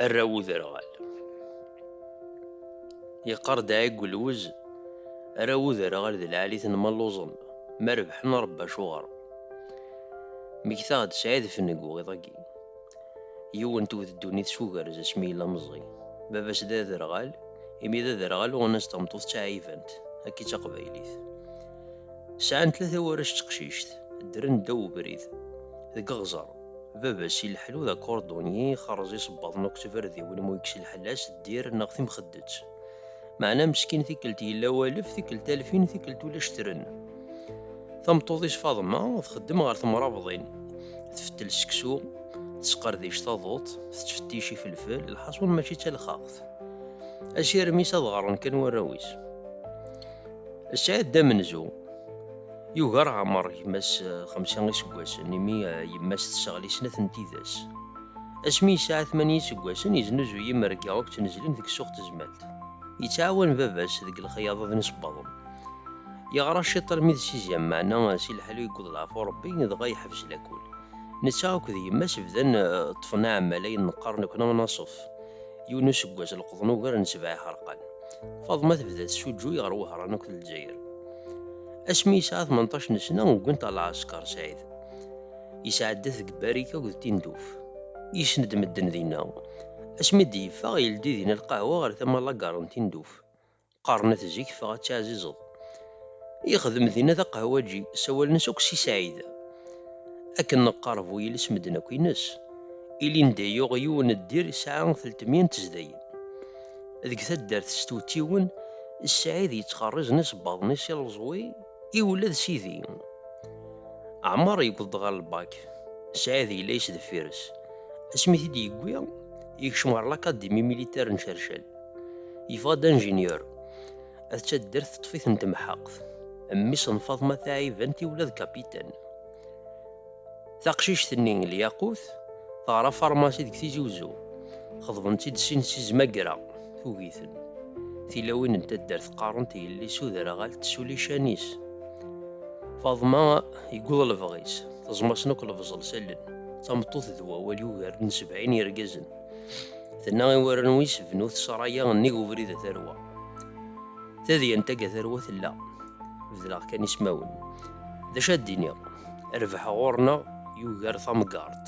arraw uderɣal yeqqar-d ɛigu lwez arraw uderɣal d lɛalit n malluẓen ma rebḥen rebba acuɣer megtaɣ-d sɛid fengu iḍ-agi yiwen tewwet ddunit s ugerz asmi yella meẓẓi baba-s d aderɣal imi d aderɣal uɣen-as tameṭṭut d taɛibant akka i d taqbaylit Sɛan tlata warrac d teqcict, ddren ddaw ubrid. Deg uɣẓer, baba-s ileḥḥlu d akurdunyi, ixerreẓ isebbaḍen akked tibardiwin mu yekkes lḥella-s d dir neɣ timxeddet. Meɛna meskin tikkelt yella walef, tikkelt alfin, tikkelt ulac tren. Tameṭṭut-is Faḍma txeddem ɣer temrabḍin, tfettel seksu, tesqerdic taḍuṭ, tettfettic ifelfel, lḥaṣun mačči d talexxaxt. Asirem-is ad ɣren kan warraw-is. Sɛid d amenzu. Yugar Ɛmer gma-s xemsa iseggasen, imi yemma-s tesseɣli snat n tidas. Asmi yesɛa tmanya iseggasen, yeznuzuy imerga akked tnezlin deg ssuq tezmalt. Yettɛawan baba-s deg lexyaḍa d nisebbaḍen. Yeɣra ciṭ armi d siziam, meɛna si leḥlu yewweḍ leɛfu n Rebbi, dɣa yeḥbes lakul. Netta akked yemma-s bdan ṭṭfen aɛmmal ayen neqqar nekni anaṣef. Yiwen n useggas leqḍen ugar n sebɛa iḥerqan. Faḍma tebda tessuǧǧuy ɣer Wehran akked Lezzayer. Asmi yesɛa tmenṭac n sna ugin-t ɣer lɛesker Saɛid. Yesɛedda-t deg Barika akked Tinduf. Yesned medden dinna. Asmi d-yeffeɣ yeldi dinna lqahwa ɣer tama lagar n Tinduf. Qqaren-t zik ffeɣ ad teɛzizeḍ. Yexdem dinna d aqehwaǧi, sawalen-as akk Si Saɛid. Akken neqqar bu yiles medden akk ines. Ilindi yuɣ yiwen ddir yesɛa teltemya n tezdayin. Deg taddart s twettiwin, Si Saɛid yettxerrizen isebbaḍen-is i leẓwi i ula d Sidi. Ɛmer yewweḍ-d ɣer lbak, Saɛid yella yesdeffir-s. Asmi i t-id-yewwi, yekcem ɣer lakadimi militar n Cercel. Yeffeɣ-d anjinyur. At taddart teṭṭef-iten temḥeqt. Mmi-s n Faḍma taɛibant i ula d kapitan. Taqcict-nni, Lyaqut, teɣra farmasi deg Tizi Uzzu. Xeḍben-tt-id sin si Zmagra, tugi-ten. Tilawin n taddart qqarent i yelli-s uderɣal tesuli ccan-is. Faḍma yewweḍ lebɣi-s, teẓma-sen akk lebẓel s allen. D tameṭṭut d wawal yugaren sebɛin yergazen. Tenna i warraw is bnu tesraya nnig ubrid a tarwa. Tadyant aga tarwa tella. Bedleɣ kan ismawen. D acu ad d-iniɣ? Rbeḥ ɣur-neɣ yugar tamgaṛt.